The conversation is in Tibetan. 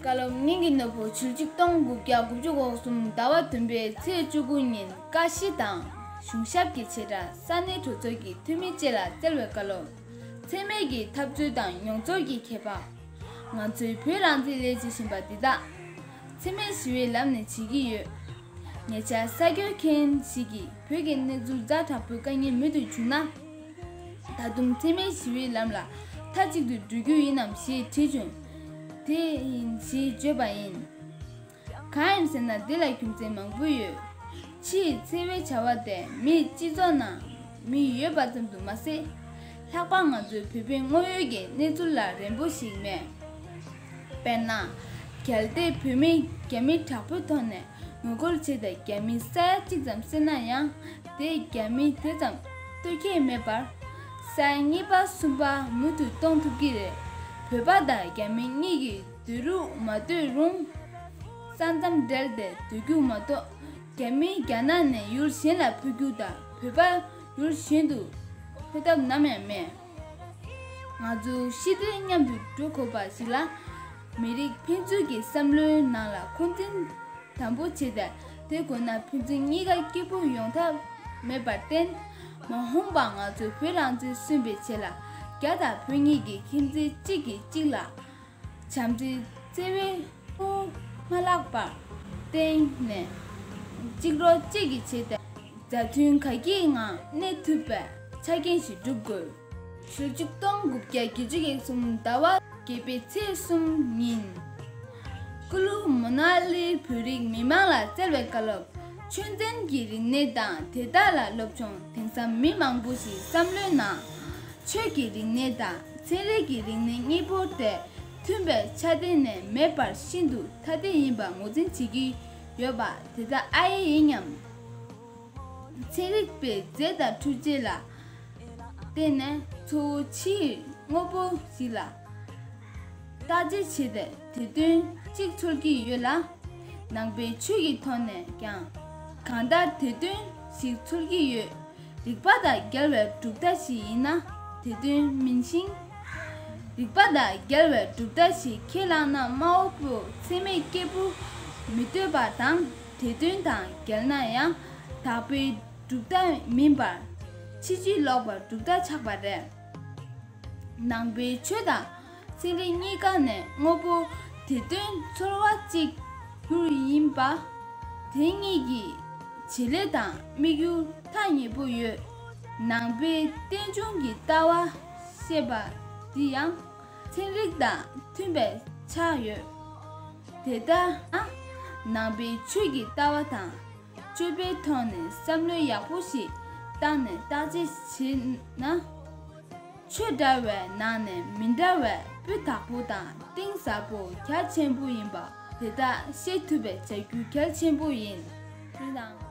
བཀའ་སློབ་སྙིང་གི་ནོར་བུ་ཆུ་གཅིག་སྟོང་དགུ་བརྒྱ་དགུ་བཅུ་གོ་གསུམ་ཟླ་བ་བདུན་པའི་ཚེས་བཅུ་དགུ་ཉིན་བཀའ་སྤྱི་དང་གཞུང་ཞབས་ཀྱི་བྱེ་བྲག་ས་གནས་གྲོས་ཚོགས་ཀྱི་འཐུས་མི་བཅས་ལ་སྩལ་བའི་བཀའ་སློབ། འཚེ་མེད་ཀྱི་འཐབ་རྩོད་དང་མྱོང་ཚོར་གྱི་ཁྱད་འཕགས། ང་ཚོའི་བོད་རང་བཙན་སླད་བྱེད་བཞིན་པ་འདི་དག། འཚེ་མེད་ཞི་བའི་ལམ་ནས་བྱེད་ཀྱི་ཡོད། ཉེ་ཆར་གསར་འགྱུར་མཁན་ཞིག་གིས་བོད་ཀྱི་གནས་ཚུལ་རྫ་དྲག་པོའི་དཀའ་ངལ་མུ་མཐུད་བྱུང་ན། ད་དུང་འཚེ་མེད་ཞི་བའི་ལམ་ལ་མཐའ་གཅིག་ཏུ་འགྲོ་རྒྱུ་ཡིན་ནམ་ཞེས་དྲིས་བྱུང། དེ་ཡིན་ཞེས་བརྗོད་པ་ཡིན། གང་ཡིན་ཟེར་ན་འདི་ལ་རྒྱུ་མཚན་མང་པོ་ཡོད། ཕྱིའི་འཚེ་བའི་བྱ་བ་དེ་མིའི་སྤྱི་ཚོགས་ནང་མི་ཡོད་པ་ཙམ་དུ་མ་ཟད། ལྷག་པར་ང་ཚོའི་བོད་པའི་དངོས་ཡོད་ཀྱི་གནས་ཚུལ་ལ་རན་པོ་ཞིག་མེད། དཔེར་ན། གལ་ཏེ་བོད་མི་རྒྱ་མི་དྲག་པོའི་ཐོག་ནས་ངོ་རྒོལ་བྱས་ཏེ་རྒྱ་མི་ས་ཡ་གཅིག་ཙམ་བསད་ན་ཡང་དེས་རྒྱ་མི་དེ་ཙམ་བསྟོད་ཁྱད་མེད་པར། ས་ཡ་གཉིས་པ་གསུམ་པ་མུ་མཐུད་གཏོང་ཐུབ་ཀྱི་རེད། བོད་པ་དང་རྒྱ་མི་གཉིས་ཀྱི་སྡོད་རུག་མ་སྡོད་རུང། ས་མཚམས་སྦྲེལ་པའི་སྡོད་རྒྱུགས་མ་གཏོགས་རྒྱ་མིས་རྒྱ་ནག་ནས་ཡུལ་གཞན་ལ་འཕུད་རྒྱུ་དང་བོད་པ་ཡུལ་གཞན་དུ་འཕུད་ཐབས་ནམ་ཡང་མེད། ང་ཚོ་ཤི་དུས་མཉམ་དུ་འགྲོ་དགོས་པ་ཞིག་ལ། མི་རིགས་ཕན་ཚུན་གྱི་བསམ་བློའི་ནང་ལ་འཁོན་འཛིན་དམ་པོ་བྱས་ཏེ་བསྡད་དགོས་ན་ཕན་ཚུན་གཉིས་ཀ་སྐྱིད་པོ་ཡོང་ཐབས་མེད་པར་བརྟེན། མ་འོངས་པ་ང་ཚོ་བོད་རང་བཙན་སུན་པའི་ཆེད་ལ་རྒྱ་དང་བོད་གཉིས་ཀྱི་མཁྱེན་བརྩེ་གཅིག་གིས་གཅིག་ལ། བྱམས་བརྩེའི་བརྩེ་བས་དབུགས་མ་བརླག་པར་བརྟེན་ནས། གཅིག་རོ་གཅིག་གིས་བྱེད་པའི་མཛའ་མཐུན་ག་གེའི་ངང་གནས་ཐུབ་པའི་ཆ་རྐྱེན་ཞིག་བསྒྲུབ་དགོས། ཞོལ་བཅུ་སྟོང་དགུ་བརྒྱ་བརྒྱད་བཅུ་ཡས་གསུམ་ཟླ་བ་བརྒྱད་པའི་ཚེས་གསུམ་ཉིན། ཀུ་ལུ་མོ་ན་ལིར་བོད་རིགས་མི་མང་ལ་བསྩལ་བའི་བཀའ་སློབ། ཆོས་ཚན་གྱི་རིག་གནས་དང་དེ་དག་ལ་སློབ་སྦྱོང་དེང་སང་མི་མང་པོ་ཞིག་བསམ་བློའི་ནང། ཆོས་ཀྱི་རིག་གནས་དང་ཚན་རིག་གི་རིག་གནས་གཉིས་པོར་ཐད་མཐུན་པའི་ཆ་གཏན་ནས་མེད་པར་ཤིན་ཏུ་ཐ་དད་ཡིན་པར་ངོས་འཛིན་བྱེད་ཀྱི་ཡོད་པ་དེ་དག་ཨ་ཡེ་ཡིན་སྙམ། ཚན་རིག་པས་རྫས་དང་འཕྲུལ་ཆས་ལ་བརྟེན་ནས་གཙོ་བོ་ཕྱིའི་དངོས་པོ་ཞིག་ལ་བརྟག་དཔྱད་བྱས་ཏེ་དེ་དོན་གཅིག་ཚོར་གྱི་ཡོད་ལ། ནང་པའི་ཆོས་ཀྱི་ཐོག་ནས་ཀྱང་གང་ལྟར་དེ་དོན་ཞིག་ཚོར་གྱི་ཡོད། རིག་པ་དང་འགལ་བའི་གྲུབ་མཐའ་ཞིག་ཡིན་ན་དེ་དོན་མིན་ཞིང། རིག་པ་དང་འགལ་བའི་གྲུབ་མཐའ་ཞིག་ཁས་བླངས་ན་སྨྲ་བ་པོས་མཚན་མེད་སྐྱེས་བུ་མི་ལྟོས་པ་དང་དེ་དོན་དང་འགལ་ན་ཡང་དག་པའི་གྲུབ་མཐའ་མིན་པར་ཕྱི་རྒྱུད་ལོག་པར་གྲུབ་མཐའ་ཆགས་པ་རེད། ནང་པའི་ཆོས་དང། ཚན་རིག་གཉིས་ཀ་ནས་དངོས་པོ་དེ་དོན་ཚོར་བ་གཅིག་གྱུར་ཡིན་པ། དེ་གཉིས་ཀྱི་བྱེད་ལས་དང་དམིགས་ཡུལ་ཐ་སྙད་པོ་ཡོད། ནང་པའི་རྟེན་འབྱུང་གི་ལྟ་བ་ཤེས་པ་འདི་ཡང་ཚན་རིག་དང་མཐུན་པའི་ཆ་ཡོད། དེ་ལྟ་ན་ནང་པའི་ཆོས་ཀྱི་ལྟ་བ་དང། སྤྱོད་པའི་ཐོག་ནས་བསམ་བློ་ཡག་པོ་ཞིག་བཏང་ནས་བརྟག་དཔྱད་བྱས་ན། ཆོས་འདྲ་བའི་ནང་ནས་མི་འདྲ་བའི་སྤུས་དག་པོ་དང་གཏིང་ཟབ་པོ་གལ་ཆེན་པོ་ཡིན་པ་དེ་དག་ཤེས་ཐུབ་པའི་བྱ་རྒྱུ་གལ་ཆེན་པོ་ཡིན། དེ་དང།